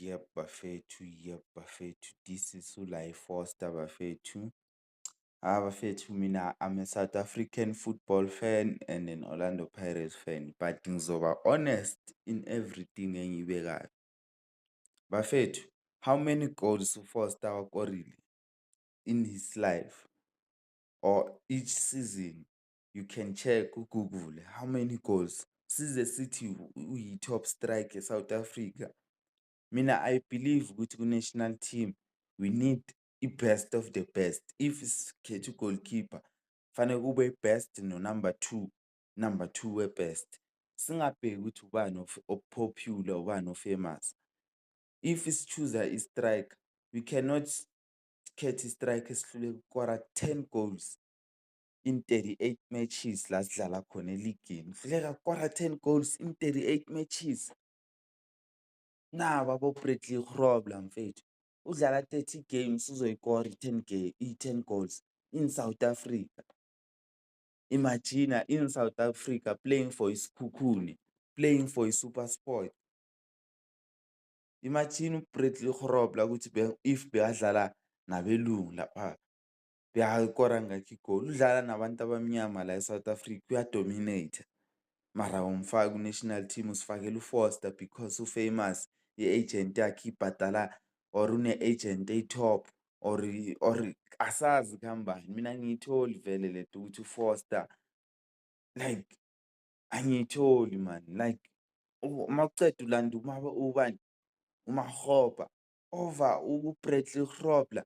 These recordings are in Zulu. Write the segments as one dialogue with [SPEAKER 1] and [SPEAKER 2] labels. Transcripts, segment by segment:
[SPEAKER 1] Yep bafethu, yep bafethu this is uLae Foster bafethu. Hha bafethu mina I'm a South African football fan and an Orlando Pirates fan but ngizoba honest in everything engiyibekayo. Bafethu how many goals uFoster awakorile in his life or each season? you can check ku-Google how many goals size sithi uyi-top strike e-South Africa. Mina I believe ukuthi ku-national team we need i-best of the best. If sikhetha u-goalkeeper kufanele kube i-best no-number two, number two we-best. Singabheki ukuthi ubani o-popular ubani o-famous. If si-chooser i-striker we cannot khetha i-striker esihluleka ukukora ten goals. in 38 matches la sidlala khona eligini uhluleka kukora 10 goals in 38 matches nabo abobradley grobler mfethu udlala 30 games uzoyikora i-10 game i-10 goals in south africa imagina in south africa playing for isikhukhune playing for i-super sport imagine ubradley grobler ukuthi if beadlala nabelungu lapha Uyakora ngakho igoli. Udlala nabantu abamnyama la eSouth Africa uyadominate. Mara awumfaki ku-national team usifakela uFoster because ufamous i-agent yakhe ibhadala or une-agent eyi-top or or asazi kuhambani. Mina angiyitholi vele le nto ukuthi uFoster like angiyitholi mani like uma uceda ulanda uma ubani uMakgopa over uBradley Grobler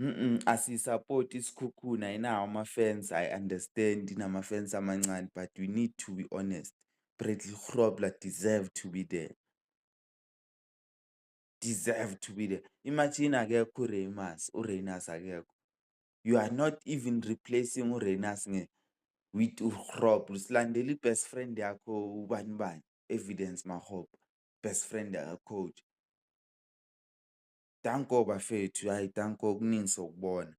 [SPEAKER 1] Mm-mm, asiyisapoti isikhukhuna inawo ama-fans i understand inama-fans amancane but we need to be honest bradley grobler deserve to be there deserve to be there imagine akekho ureymas ureynas akekho you are not even replacing ureynas nge with ugrob usilandela i-best friend yakho ubani bani evidence mahope best friend uh, coach Danko bafethu, hhayi danko kuningi sokubona.